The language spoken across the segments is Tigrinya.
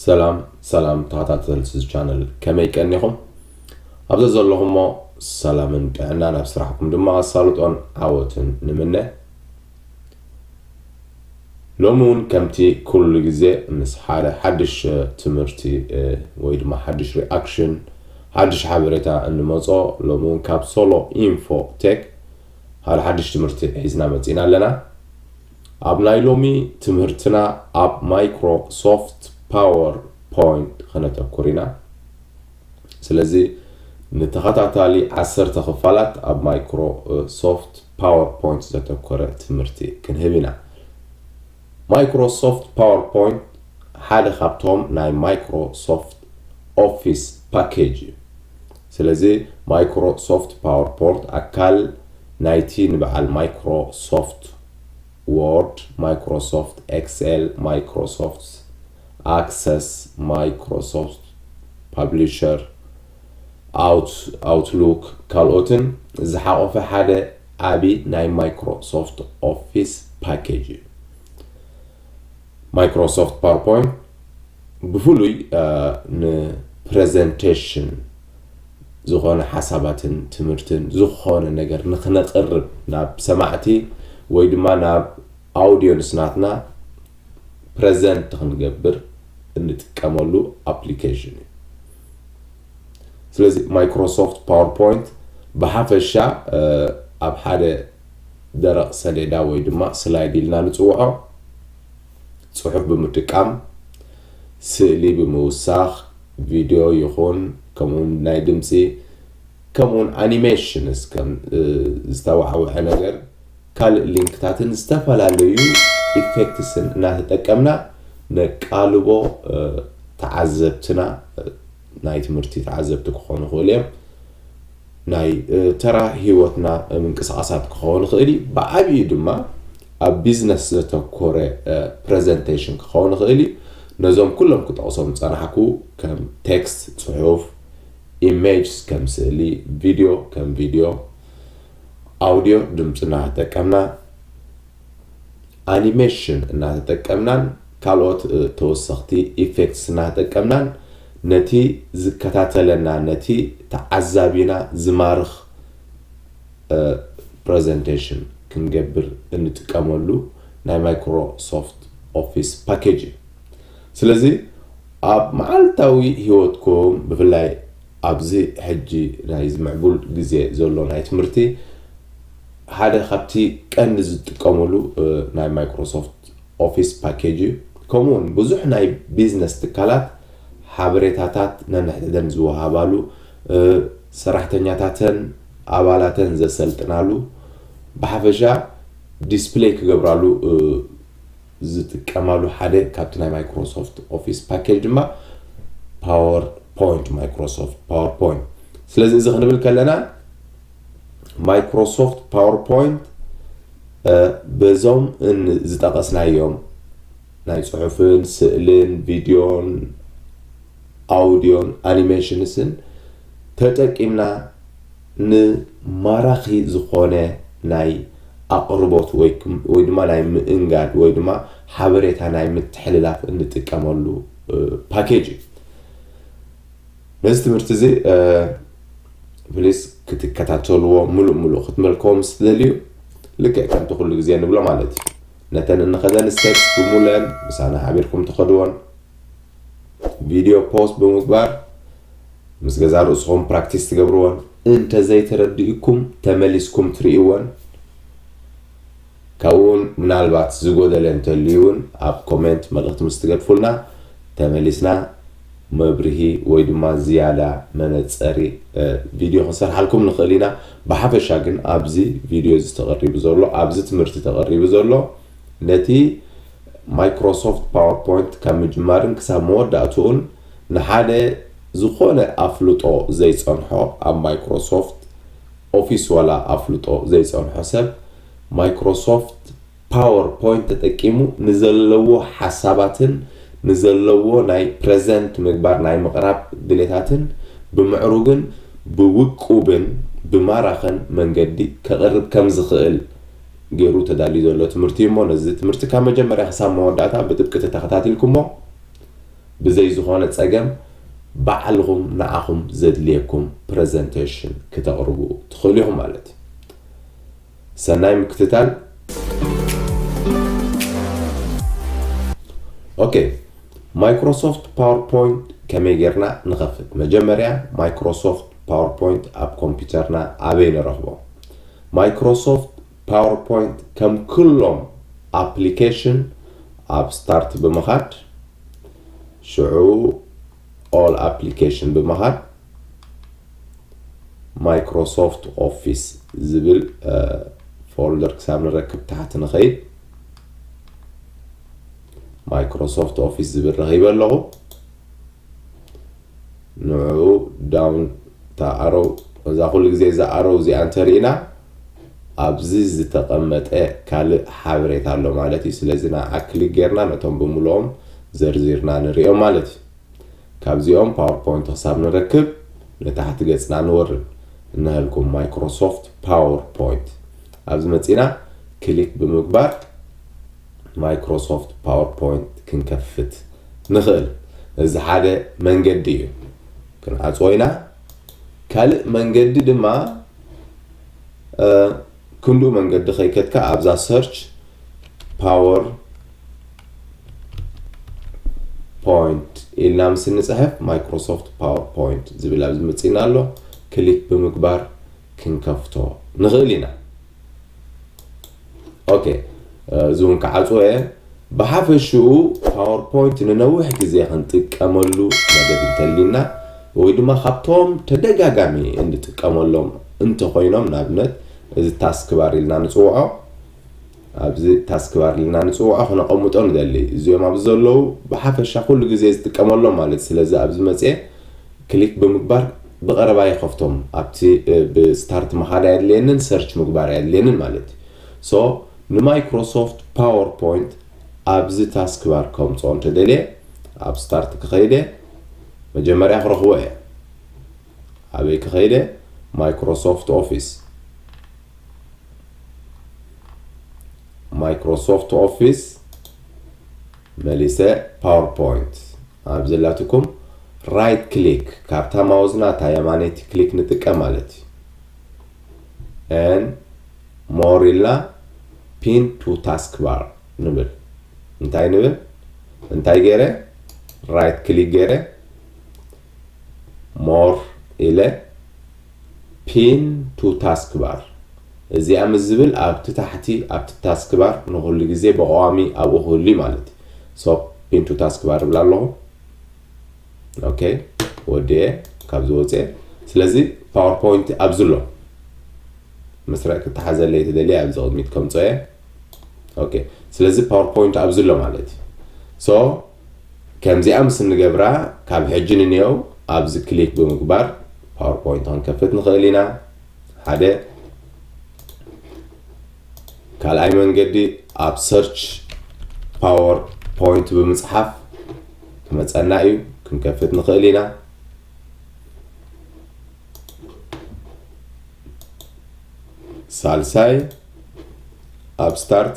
ሰላም ሰላም ተኸታተልቲ እዚ ቻነል ከመይ ቀኒኹም ኣብዚ ዘለኹሞ ሰላምን ጥዕናን ኣብ ስራሕኩም ድማ ኣሳልጦን ዓወትን ንምነ ሎሚ ውን ከምቲ ኩሉ ግዜ ምስ ሓደ ሓድሽ ትምህርቲ ወይ ድማ ሓድሽ ሪኣክሽን ሓድሽ ሓበሬታ እንመጾ ሎሚ ውን ካብ ሶሎ ኢንፎ ቴክ ሓደ ሓድሽ ትምህርቲ ሒዝና መጺእና ኣለና። ኣብ ናይ ሎሚ ትምህርትና ኣብ ማይክሮ ሶፍት ፓወር ፖይንት ከነተኩር ኢና። ስለዚ ንተኸታታሊ ዓሰርተ ክፋላት ኣብ ማይክሮ ሶፍት ፓወርፖይንት ዘተኮረ ትምህርቲ ክንህብ ኢና። ማይክሮሶፍት ፓወርፖይንት ሓደ ካብቶም ናይ ማይክሮሶፍት ኦፊስ ፓኬጅ እዩ። ስለዚ ማይክሮሶፍት ፓወርፖርት ኣካል ናይቲ ንበዓል ማይክሮሶፍት ዎርድ፣ ማይክሮሶፍት ኤክስኤል፣ ማይክሮሶፍት ኣክሰስ፣ ማይክሮሶፍት ፓብሊሸር፣ Outlook፣ ካልኦትን ዝሓቖፈ ሓደ ዓቢ ናይ Microsoft Office ፓኬጅ እዩ። Microsoft PowerPoint ብፍሉይ ንፕረዘንተሽን ዝኾነ ሓሳባትን ትምህርትን ዝኾነ ነገር ንክነቕርብ ናብ ሰማዕቲ ወይ ድማ ናብ ኣውድዮንስ ናትና ፕረዘንት ክንገብር እንጥቀመሉ ኣፕሊኬሽን እዩ። ስለዚ ማይክሮሶፍት ፓወርፖይንት ብሓፈሻ ኣብ ሓደ ደረቕ ሰሌዳ ወይ ድማ ስላይድ ኢልና ንፅውዖ ፅሑፍ ብምጥቃም ስእሊ ብምውሳኽ ቪድዮ ይኹን ከምኡውን ናይ ድምፂ ከምኡውን ኣኒሜሽንስ ከም ዝተዋዕወዐ ነገር ካልእ ሊንክታትን ዝተፈላለዩ ኢፌክትስን እናተጠቀምና ነቃልቦ ተዓዘብትና ናይ ትምህርቲ ተዓዘብቲ ክኾኑ ይኽእሉ እዮም ናይ ተራ ሂወትና ምንቅስቓሳት ክኸውን ይኽእል እዩ ብዓብዩ ድማ ኣብ ቢዝነስ ዘተኮረ ፕሬዘንቴሽን ክኸውን ይኽእል እዩ ነዞም ኩሎም ክጠቕሶም ዝጸናሕኩ ከም ቴክስት ጽሑፍ ኢሜጅስ ከም ስእሊ ቪድዮ ከም ቪድዮ ኣውድዮ ድምፂ እናተጠቀምና ኣኒሜሽን እናተጠቀምናን ካልኦት ተወሰኽቲ ኢፌክትስ እናተጠቀምናን ነቲ ዝከታተለና ነቲ ተዓዛቢና ዝማርኽ ፕረዘንቴሽን ክንገብር እንጥቀመሉ ናይ ማይክሮሶፍት ኦፊስ ፓኬጅ እዩ ስለዚ ኣብ መዓልታዊ ህይወትኩም ብፍላይ ኣብዚ ሕጂ ናይ ዝምዕቡል ግዜ ዘሎ ናይ ትምህርቲ ሓደ ካብቲ ቀንዲ ዝጥቀሙሉ ናይ Microsoft Office ፓኬጅ እዩ። ከምኡ ውን ብዙሕ ናይ ቢዝነስ ትካላት ሓበሬታታት ነንሕድሕደን ዝወሃባሉ፣ ሰራሕተኛታተን ኣባላተን ዘሰልጥናሉ፣ ብሓፈሻ ዲስፕለይ ክገብራሉ፣ ዝጥቀማሉ ሓደ ካብቲ ናይ ማይክሮሶፍት ኦፊስ ፓኬጅ ድማ ፓወር ፖይንት ማይክሮሶፍት ፓወር ፖይንት ስለዚ እዚ ክንብል ከለና ማይክሮሶፍት ፓወር ፖይንት በዞም ዝጠቐስናዮም ናይ ጽሑፍን ስእልን ቪድዮን ኣውድዮን ኣኒሜሽንስን ተጠቂምና ን ማራኺ ዝኾነ ናይ ኣቕርቦት ወይ ድማ ናይ ምእንጋድ ወይ ድማ ሓበሬታ ናይ ምትሕልላፍ እንጥቀመሉ ፓኬጅ እዩ። ነዚ ትምህርቲ እዚ ፕሊስ ክትከታተልዎ ምሉእ ምሉእ ክትመልከዎ ምስ ትደልዩ ልክዕ ከምቲ ኩሉ ግዜ ንብሎ ማለት እዩ ነተን እንኸደን ስቴፕስ ብሙሉአን ምሳና ሓቢርኩም ትኸድዎን ቪድዮ ፖስት ብምግባር ምስ ገዛ ርእስኹም ፕራክቲስ ትገብርዎን እንተዘይተረዲኡኩም ተመሊስኩም ትርእይዎን ካብኡ እውን ምናልባት ዝጎደለ እንተልዩ እውን ኣብ ኮሜንት መልእኽቲ ምስ ትገድፉልና ተመሊስና መብርሂ ወይ ድማ ዝያዳ መነፀሪ ቪድዮ ክንሰርሓልኩም ንኽእል ኢና ብሓፈሻ ግን ኣብዚ ቪድዮ እዚ ተቐሪቡ ዘሎ ኣብዚ ትምህርቲ ተቐሪቡ ዘሎ ነቲ Microsoft PowerPoint ካብ ምጅማርን ክሳብ መወዳእትኡን ንሓደ ዝኾነ ኣፍልጦ ዘይጸንሖ ኣብ Microsoft Office ዋላ ኣፍልጦ ዘይጸንሖ ሰብ Microsoft PowerPoint ተጠቂሙ ንዘለዎ ሓሳባትን ንዘለዎ ናይ Present ምግባር ናይ ምቕራብ ድሌታትን ብምዕሩግን ብውቁብን ብማራኽን መንገዲ ከቕርብ ከም ዝኽእል ጌሩ ተዳልዩ ዘሎ ትምህርቲ እዩ እሞ ነዚ ትምህርቲ ካብ መጀመርያ ክሳብ መወዳእታ ብጥብቂ ተተኸታቲልኩሞ ብዘይ ዝኾነ ጸገም ባዕልኹም ንዓኹም ዘድልየኩም ፕረዘንተሽን ክተቕርቡ ትኽእሉ ኢኹም ማለት እዩ። ሰናይ ምክትታል። ኦኬ ማይክሮሶፍት ፓወርፖይንት ከመይ ጌርና ንኸፍት? መጀመርያ ማይክሮሶፍት ፓወርፖይንት ኣብ ኮምፒውተርና ኣበይ ንረኽቦ? ማይክሮሶፍት ፓወርፖይንት ከም ክሎም ኣፕሊኬሽን ኣብ ስታርት ብምኻድ ሽዑ ኦል ኣፕሊኬሽን ብምኻድ ማይክሮሶፍት ኦፊስ ዝብል ፎልደር ክሳብ ንረክብ ታሕቲ ንኸይድ ማይክሮሶፍት ኦፊስ ዝብል ረኺበ ኣለኹ ንዑ ዳውን እታ ኣሮው እዛ ኩሉ ግዜ እዛ ኣሮው እዚኣ እንተሪእና ኣብዚ ዝተቐመጠ ካልእ ሓበሬታ ኣሎ ማለት እዩ ስለዚ ንዓ ክሊክ ጌርና ነቶም ብምልኦም ዘርዚርና ንሪኦም ማለት እዩ ካብዚኦም ፓወርፖይንት ክሳብ ንረክብ ንታሕቲ ገጽና ንወርድ እነህልኩም ማይክሮሶፍት ፓወርፖይንት ኣብዚ መጺና ክሊክ ብምግባር ማይክሮሶፍት ፓወርፖይንት ክንከፍት ንኽእል። እዚ ሓደ መንገዲ እዩ። ክንዓጽዎ ኢና። ካልእ መንገዲ ድማ ክንድኡ መንገዲ ከይከድካ ኣብዛ ሰርች ፓወር ፖይንት ኢልና ምስ እንፅሕፍ ማይክሮሶፍት ፓወር ፖይንት ዝብል ኣብዚ መፂና ኣሎ ክሊክ ብምግባር ክንከፍቶ ንኽእል ኢና ኦኬ እዚ እውን ክዓፅዎ እየ ብሓፈሽኡ ፓወርፖይንት ንነዊሕ ግዜ ክንጥቀመሉ መደብ እንተልዩና ወይ ድማ ካብቶም ተደጋጋሚ እንጥቀመሎም እንተኮይኖም ንኣብነት እዚ ታስክ ባር ኢልና ንፅውዖ ኣብዚ ታስክ ባር ኢልና ንፅውዖ ክነቐምጦ ንደሊ እዚኦም ኣብዚ ዘለዉ ብሓፈሻ ኩሉ ግዜ ዝጥቀመሎም ማለት ስለዚ ኣብዚ መፅኤ ክሊክ ብምግባር ብቀረባ ይከፍቶም ኣብቲ ብ ስታርት ምካድ ኣየድልየንን ሰርች ምግባር ኣየድልየንን ማለት እዩ so ንማይክሮሶፍት ፓወር ፖይንት ኣብዚ ታስክ ባር ከምፅኦ እንተደልየ ኣብ ስታርት ክከይደ መጀመርያ ክረክቦ እየ ኣበይ ክከይደ ማይክሮሶፍት ኦፊስ ማይክሮሶፍት ኦፊስ መሊሰ ፓወር ፖይንት ኣብ ዘላትኩም ራይት ክሊክ ካብታ ማውዝና እታ የማነይቲ ክሊክ ንጥቀም ማለት እዩ and more ኢልና pin to taskbar ንብል እንታይ ንብል እንታይ ገይረ ራይት ክሊክ ገይረ more ኢለ ፒን ቱ ታስክ ባር እዚኣ ምስ ዝብል ኣብቲ ታሕቲ ኣብቲ ታስክ ባር ንኹሉ ግዜ ብቐዋሚ ኣብኡ ክህሉ እዩ ማለት እዩ ሶ ፒን ቱ ታስክ ባር እብላ ኣለኹ ኦኬ ወዲኤ ካብዚ ወፅኤ ስለዚ ፓወርፖይንት ኣብዚ ኣሎ መስርዕ ክተሓዘለይ ትደልየ ኣብዚ ቅድሚት ከምፆ እየ ኦኬ ስለዚ ፓወርፖይንት ኣብዚ ኣሎ ማለት እዩ ሶ ከምዚኣ ምስ እንገብራ ካብ ሕጂ ንንየው ኣብዚ ክሊክ ብምግባር ፓወርፖይንት ክንከፍት ንኽእል ኢና ሓደ ካልኣይ መንገዲ ኣብ ሰርች ፓወር ፖይንት ብምፅሓፍ ክመፀና እዩ ክንከፍት ንኽእል ኢና ሳልሳይ ኣብ ስታርት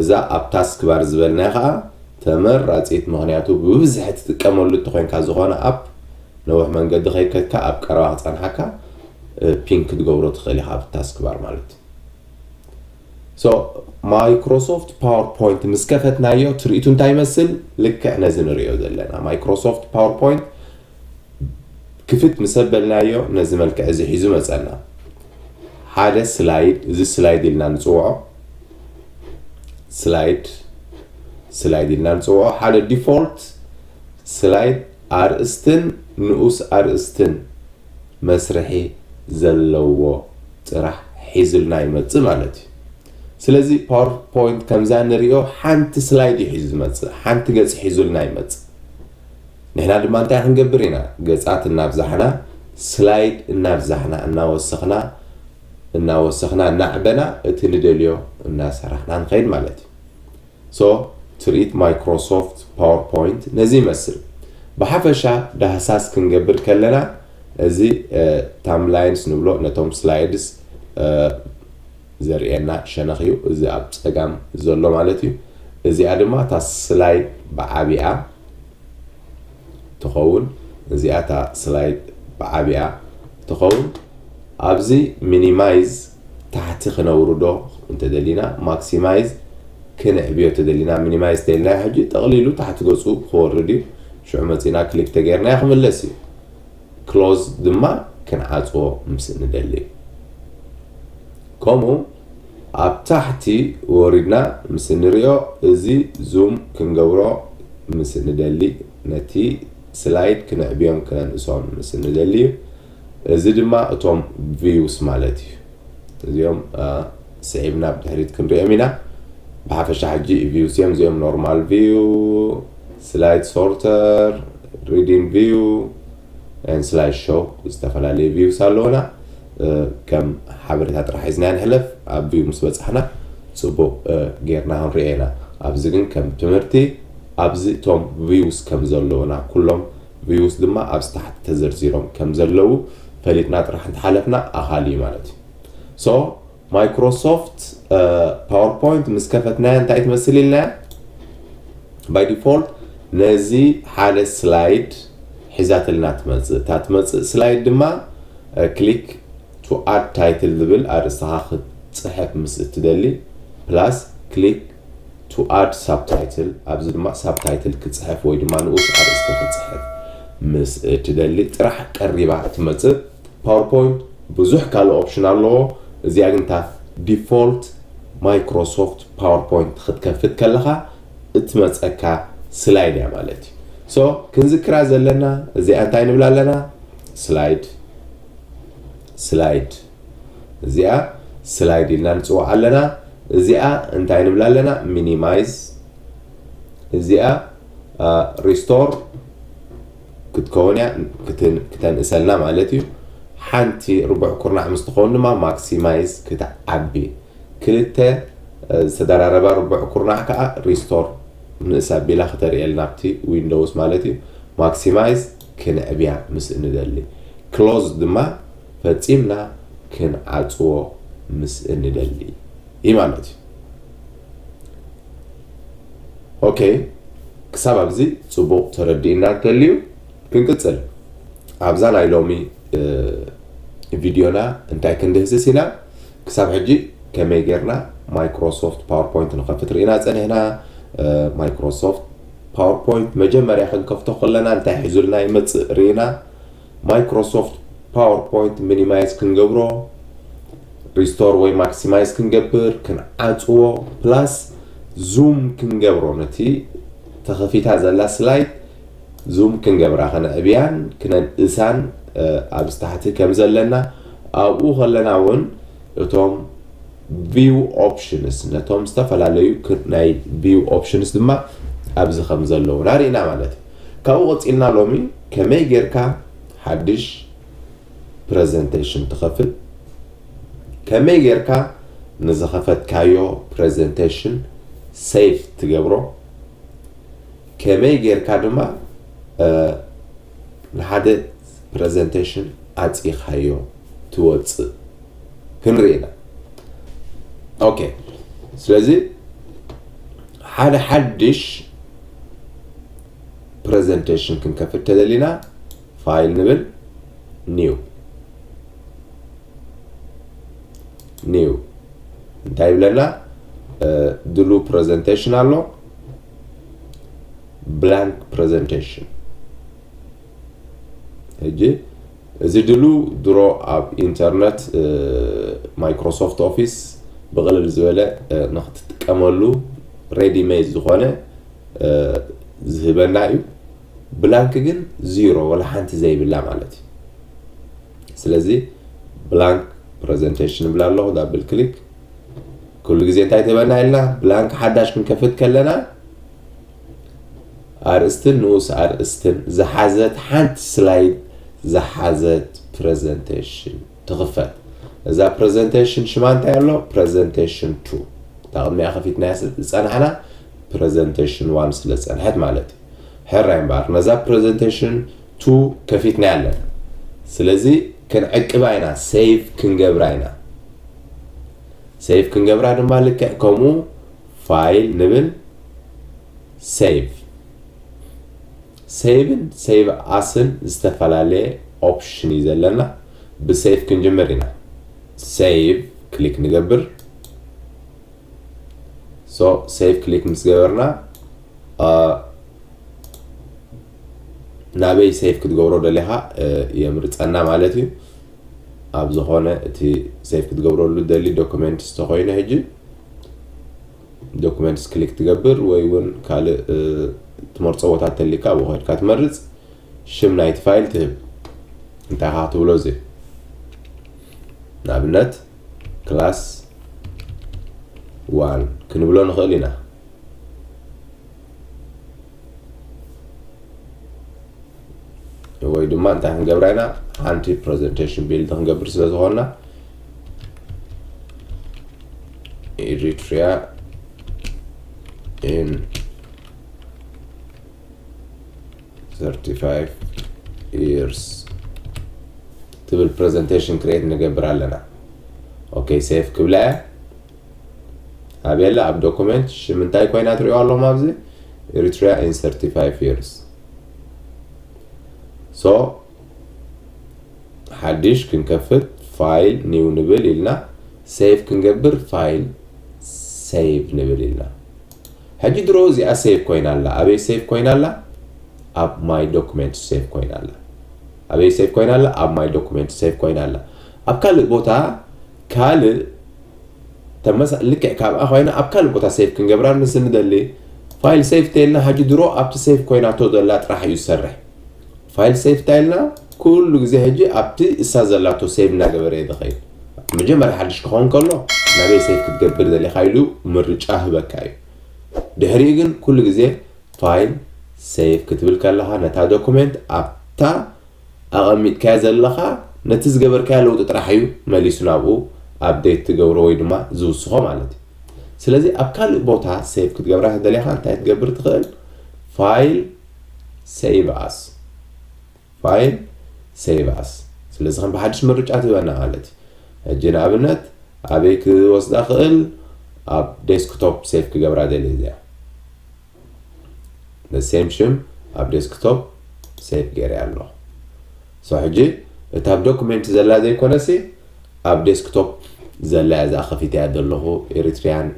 እዛ ኣብ ታስክ ባር ዝበልናያ ከኣ ተመራጺት ምኽንያቱ ብብዝሒ ትጥቀመሉ እተኾይንካ ዝኾነ ኣፕ ነውሕ መንገዲ ከይከድካ ኣብ ቀረባ ክጸንሓካ ፒን ክትገብሮ ትኽእል ኢኻ ኣብ ታስክ ባር ማለት ሶ ማይክሮሶፍት ፓወር ፖይንት ምስ ከፈትናዮ ትርኢቱ እንታይ ይመስል ልክዕ ነዚ ንርእዮ ዘለና ማይክሮሶፍት ፓወር ፖይንት ክፍት ምስ ኣበልናዮ ነዚ መልክዕ እዚ ሒዙ መጸና። ሓደ ስላይድ እዚ ስላይድ ኢልና ንጽውዖ ስላይድ ስላይድ ኢልና ንጽውዖ ሓደ ዲፎልት ስላይድ ኣርእስትን ንኡስ ኣርእስትን መስርሒ ዘለዎ ጥራሕ ሒዙልና ይመጽእ ማለት እዩ። ስለዚ ፓወርፖይንት ከምዛ ንሪኦ ሓንቲ ስላይድ እዩ ሒዙ ዝመጽእ ሓንቲ ገጽ ሒዙልና ይመጽእ። ንሕና ድማ እንታይ ክንገብር ኢና? ገጻት እናብዛሕና፣ ስላይድ እናብዛሕና፣ እናወሰኽና እናወሰኽና እናዕበና እቲ ንደልዮ እናሰራሕና ንኸይድ ማለት እዩ። So ትርኢት Microsoft PowerPoint ነዚ ይመስል። ብሓፈሻ ዳህሳስ ክንገብር ከለና እዚ Thumbnails ንብሎ ነቶም ስላይድስ ዘርእየና ሸነኽ እዩ እዚ ኣብ ጸጋም ዘሎ ማለት እዩ እዚኣ ድማ እታ ስላይድ ብዓቢኣ ትኸውን እዚኣ እታ ስላይድ ብዓቢኣ ትኸውን ኣብዚ ሚኒማይዝ ታሕቲ ክነውርዶ እንተደሊና ማክሲማይዝ ክንዕብዮ ተደሊና ሚኒማይዝ ተይልና ሕጂ ጠቕሊሉ ታሕቲ ገጹ ክወርድ እዩ ሽዑ መጺና ክሊክ ተገይርናዮ ክምለስ እዩ ክሎዝ ድማ ክንዓጽዎ ምስ እንደሊ ከምኡ ኣብ ታሕቲ ወሪድና ምስ እንሪኦ እዚ ዙም ክንገብሮ ምስ እንደሊ ነቲ ስላይድ ክነዕብዮን ክነንእሶን ምስ እንደሊ እዩ እዚ ድማ እቶም ቪውስ ማለት እዩ እዚኦም ስዒብና ብድሕሪት ክንሪኦም ኢና ብሓፈሻ ሕጂ ቪውስ እዮም እዚኦም ኖርማል ቪው ስላይድ ሶርተር፣ ሪዲንግ ቪው፣ ን ስላይድ ሾው ዝተፈላለዩ ቪውስ ኣለዉና። ከም ሓበሬታ ጥራሕ ሒዝና ንሕለፍ። ኣብ ቪው ምስ በጻሕና ጽቡቕ ጌርና ክንሪኦ ኢና። ኣብዚ ግን ከም ትምህርቲ ኣብዚ እቶም ቪውስ ከም ዘለዉና ኩሎም ቪውስ ድማ ኣብዚ ታሕቲ ተዘርዚሮም ከም ዘለዉ ፈሊጥና ጥራሕ እንተሓለፍና ኣኻሊ እዩ ማለት እዩ። ሶ ማይክሮሶፍት ፓወርፖይንት ምስ ከፈትናያ እንታይ ትመስል ኢልናያ ባይ ዲፎልት ነዚ ሓደ ስላይድ ሒዛትልና ትመፅእ እታ ትመፅእ ስላይድ ድማ ክሊክ ቱ ኣድ ታይትል ዝብል ኣርእስኻ ክትፅሕፍ ምስ እትደሊ ፕላስ ክሊክ ቱ ኣድ ሳብታይትል ኣብዚ ድማ ሳብታይትል ክፅሕፍ ወይ ድማ ንኡስ ኣርእስቲ ክፅሕፍ ምስ እትደሊ ጥራሕ ቀሪባ ትመፅእ ፓወርፖይንት ብዙሕ ካልእ ኦፕሽን ኣለዎ እዚኣ ግን እታ ዲፎልት ማይክሮሶፍት ፓወርፖይንት ክትከፍት ከለኻ እትመፀካ ስላይድ እያ ማለት እዩ ሶ ክንዝክራ ዘለና እዚኣ እንታይ ንብላ ኣለና ስላይድ ስላይድ እዚኣ ስላይድ ኢልና ንፅዋዕ ኣለና እዚኣ እንታይ ንብላ ኣለና ሚኒማይዝ እዚኣ ሪስቶር ክትከውን እያ ክተንእሰልና ማለት እዩ ሓንቲ ርቡዕ ኩርናዕ ምስ ትኸውን ድማ ማክሲማይዝ ክትዓቢ ክልተ ዝተደራረባ ርቡዕ ኩርናዕ ከዓ ሪስቶር ንእስ ኣቢላ ክተርእየልና ኣብቲ ዊንዶውስ ማለት እዩ ማክሲማይዝ ክንዕብያ ምስ እንደሊ ክሎዝ ድማ ፈፂምና ክንዓፅዎ ምስ እንደሊ እዩ ማለት እዩ ኦከ ክሳብ ኣብዚ ጽቡቕ ተረዲእና እንተልዩ ክንቅጽል ኣብዛ ናይ ሎሚ ቪድዮና እንታይ ክንድህስስ ኢና ክሳብ ሕጂ ከመይ ጌርና ማይክሮሶፍት ፓወርፖይንት ንኸፍት ርኢና ጸኒሕና ማይክሮሶፍት ፓወርፖይንት መጀመርያ ክንከፍቶ ከለና እንታይ ሒዙልና ይመጽእ ርኢና Microsoft PowerPoint ሚኒማይዝ ክንገብሮ ሪስቶር ወይ ማክሲማይዝ ክንገብር ክንዓፅዎ ፕላስ ዙም ክንገብሮ ነቲ ተኸፊታ ዘላ ስላይድ ዙም ክንገብራ ከነዕብያን ክነንእሳን ኣብዚ ታሕቲ ከም ዘለና ኣብኡ ከለና እውን እቶም ቪው ኦፕሽንስ ነቶም ዝተፈላለዩ ናይ ቪው ኦፕሽንስ ድማ ኣብዚ ከም ዘለውና ርኢና ማለት እዩ ካብኡ ቀጺልና ሎሚ ከመይ ጌርካ ሓድሽ ፕረዘንተሽን ትኸፍት፣ ከመይ ጌርካ ንዝኸፈትካዮ ፕረዘንተሽን ሴቭ ትገብሮ፣ ከመይ ጌርካ ድማ ንሓደ ፕረዘንተሽን ዓጺኻዮ ትወጽእ ክንርኢ ኢና። ኦኬ ስለዚ ሓደ ሓድሽ ፕረዘንተሽን ክንከፍት ተደሊና ፋይል ንብል ኒው ኒው እንታይ ይብለና ድሉ ፕረዘንቴሽን ኣሎ ብላንክ ፕረዘንቴሽን ሕጂ እዚ ድሉ ድሮ ኣብ ኢንተርነት ማይክሮሶፍት ኦፊስ ብቕልል ዝበለ ንክትጥቀመሉ ሬዲ ሜድ ዝኾነ ዝህበና እዩ። ብላንክ ግን ዚሮ ወላ ሓንቲ ዘይብላ ማለት እዩ። ስለዚ ብላንክ ፕረዘንቴሽን ይብላ ኣለኹ ዳብል ክሊክ ኩሉ ግዜ እንታይ ትህበና ኢልና ብላንክ ሓዳሽ ክንከፍት ከለና ኣርእስትን ንኡስ ኣርእስትን ዝሓዘት ሓንቲ ስላይድ ዝሓዘት ፕረዘንተሽን ትኽፈት። እዛ ፕረዘንተሽን ሽማ እንታይ ኣሎ? ፕረዘንተሽን ቱ። እታ ቅድሚኣ ከፊትናያ ዝጸናሕና ፕረዘንተሽን ዋን ስለ ዝጸንሐት ማለት እዩ። ሕራይ እምበኣር ነዛ ፕረዘንተሽን ቱ ከፊትናያ ኣለና። ስለዚ ክንዕቅባ ኢና፣ ሴቭ ክንገብራ ኢና። ሴቭ ክንገብራ ድማ ልክዕ ከምኡ ፋይል ንብል ሴቭ ሴቭን ሴቭ ኣስን ዝተፈላለየ ኦፕሽን እዩ ዘለና ብሴቭ ክንጅምር ኢና ሴቭ ክሊክ ንገብር ሶ ሴቭ ክሊክ ምስ ገበርና ናበይ ሴቭ ክትገብሮ ደሊኻ የምርፀና ማለት እዩ ኣብ ዝኾነ እቲ ሴቭ ክትገብረሉ ደሊ ዶክመንት ዝተኮይነ ሕጂ ዶክመንትስ ክሊክ ትገብር ወይ እውን ካልእ ትመርፆ ቦታ ተሊካ ኣብኡ ከድካ ትመርፅ ሽም ናይቲ ፋይል ትህብ እንታይ ካ ክትብሎ እዚ ንኣብነት ክላስ ዋን ክንብሎ ንኽእል ኢና ወይ ድማ እንታይ ክንገብራ ኢና ሓንቲ ፕሬዘንቴሽን ቢልድ ክንገብር ስለ ዝኾንና ኤሪትሪያ ኢን 35 years ትብል ፕሬዘንቴሽን ክሬት ንገብር ኣለና ኦኬ ሴፍ ክብላ እያ ኣብየለ ኣብ ዶኩመንት ሽም እንታይ ኮይና ትሪኦ ኣለኹም ኣብዚ ኤሪትሪያ ኢን ሰርቲ ፋይቭ ይርስ ሶ ሓድሽ ክንከፍት ፋይል ኒው ንብል ኢልና ሴቭ ክንገብር ፋይል ሴቭ ንብል ኢልና ሕጂ ድሮ እዚኣ ሴቭ ኮይና ኣላ ኣበይ ሴቭ ኮይና ኣላ ኣብ ማይ ዶኩመንት ሴቭ ኮይና ኣላ ኣበይ ሴቭ ኮይና ኣላ ኣብ ማይ ዶኩመንት ሴቭ ኮይና ኣላ ኣብ ካልእ ቦታ ካልእ ተመሳ ልክዕ ካብኣ ኮይና ኣብ ካልእ ቦታ ሴቭ ክንገብራ ምስ ንደሊ ፋይል ሴቭ ተይልና ሀጂ ድሮ ኣብቲ ሴቭ ኮይናቶ ዘላ ጥራሕ እዩ ዝሰርሕ ፋይል ሴቭ ታይልና ኩሉ ግዜ ሀጂ ኣብቲ እሳ ዘላቶ ሴቭ እናገበረ እየ ዝኸይድ መጀመርያ ሓድሽ ክኸውን ከሎ ናበይ ሴቭ ክትገብር ዘሊኻ ኢሉ ምርጫ ህበካ እዩ ድሕሪኡ ግን ኩሉ ግዜ ፋይል ሴቭ ክትብል ከለኻ ነታ ዶኩሜንት ኣብታ ኣቐሚጥካዮ ዘለኻ ነቲ ዝገበርካዮ ለውጢ ጥራሕ እዩ መሊሱ ናብኡ ኣፕዴት ዝገብሮ ወይ ድማ ዝውስኾ ማለት እዩ። ስለዚ ኣብ ካልእ ቦታ ሴቭ ክትገብራ ተደሊኻ እንታይ ክትገብር ትኽእል ፋይል ሴቭ ኣስ ፋይል ሴቭ ኣስ ስለዚ ከም ብሓድሽ ምርጫ ትህበና ማለት እዩ። ሕጂ ንኣብነት ኣበይ ክወስዳ ክእል ኣብ ዴስክቶፕ ሴቭ ክገብራ ደልየ እዚኣ the same ሽም ኣብ ዴስክቶፕ ሴቭ ገይረያ ኣለኹ ሶ ሕጂ እታ ኣብ ዶኩሜንት ዘላ ዘይኮነሲ ኣብ ዴስክቶፕ ዘላያ እዛ ከፊተያ ዘለኹ ኤሪትሪያን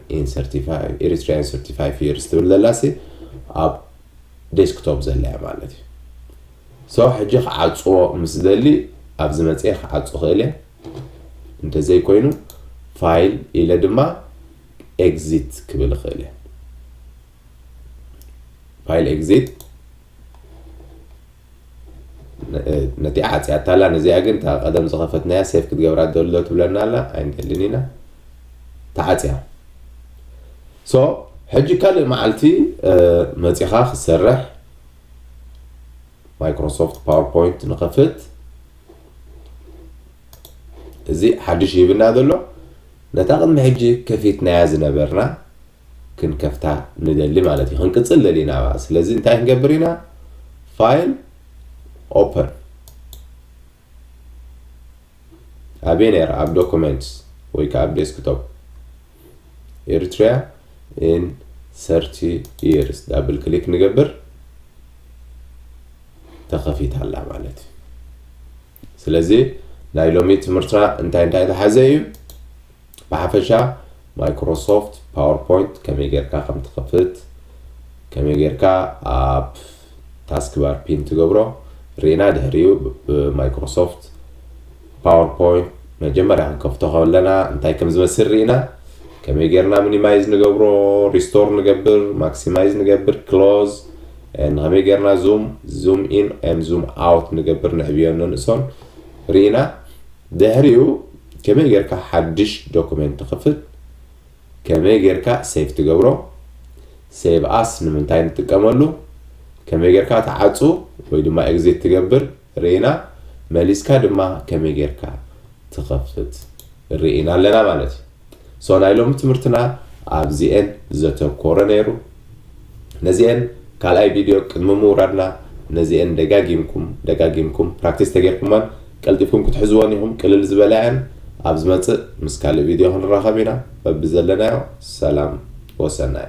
ኤሪትሪያን ሰርቲፋይ ፊርስ ትብል ዘላሲ ኣብ ዴስክቶፕ ዘላያ ማለት እዩ ሶ ሕጂ ክዓፅዎ ምስ ደሊ ኣብዚ መፅኤ ክዓፁ ክእል እየ እንተዘይኮይኑ ፋይል ኢለ ድማ ኤግዚት ክብል ይኽእል እየ ፋይል ኤግዚት ነቲ ዓፅያታ ኣላ ነዚኣ ግን እታ ቀደም ዝኸፈትናያ ሴፍ ክትገብራ ደሎ ትብለና ኣላ ኣይንደልን ኢና ተዓፅያ ሶ ሕጂ ካልእ መዓልቲ መፂኻ ክትሰርሕ ማይክሮሶፍት ፓወርፖይንት ንኸፍት እዚ ሓድሽ ሂብና ዘሎ ነታ ቅድሚ ሕጂ ከፊትናያ ዝነበርና ክንከፍታ ንደሊ ማለት እዩ ክንቅጽል ደሊና ባ ስለዚ እንታይ ክንገብር ኢና ፋይል ኦፐን ኣበይ ነራ ኣብ ዶኩመንትስ ወይ ከዓ ኣብ ዴስክቶፕ ኤሪትሪያ ኢን ሰርቲ ይርስ ዳብል ክሊክ ንገብር ተኸፊት ኣላ ማለት እዩ ስለዚ ናይ ሎሚ ትምህርትና እንታይ እንታይ ዝሓዘ እዩ ብሓፈሻ ማይክሮሶፍት ፓወርፖይንት ከመይ ጌርካ ከም ትኸፍት ከመይ ጌርካ ኣብ ታስክ ባር ፒን ትገብሮ ሪና ድሕሪኡ ብማይክሮሶፍት ፓወርፖይንት መጀመርያ ክንከፍቶ ከለና እንታይ ከም ዝመስል ርኢና ከመይ ጌርና ሚኒማይዝ ንገብሮ ሪስቶር ንገብር ማክሲማይዝ ንገብር ክሎዝ ንከመይ ገርና ዙም ዙም ኢን ን ዙም ኣውት ንገብር ንዕብዮን ነንእሶን ሪኢና ድሕሪኡ ከመይ ገርካ ሓድሽ ዶኩሜንት ትክፍት ከመይ ገርካ ሴቭ ትገብሮ ሴቭ ኣስ ንምንታይ ንጥቀመሉ ከመይ ገርካ ትዓጹ ወይ ድማ ኤግዚት ትገብር ርኢና መሊስካ ድማ ከመይ ጌርካ ትኸፍት ርኢና ኣለና ማለት እዩ so ናይ ሎሚ ትምህርትና ኣብዚኤን ዘተኮረ ነይሩ ነዚኤን ካልኣይ ቪድዮ ቅድሚ ምውራድና ነዚኤን ደጋጊምኩም ደጋጊምኩም ፕራክቲስ ተጌርኩመን ቀልጢፍኩም ክትሕዝወን ኢኹም ቅልል ዝበላ እየን ኣብ ዝመጽእ ምስ ካልእ ቪድዮ ክንራኸብ ኢና በብዘለናዮ ሰላም ወሰናይ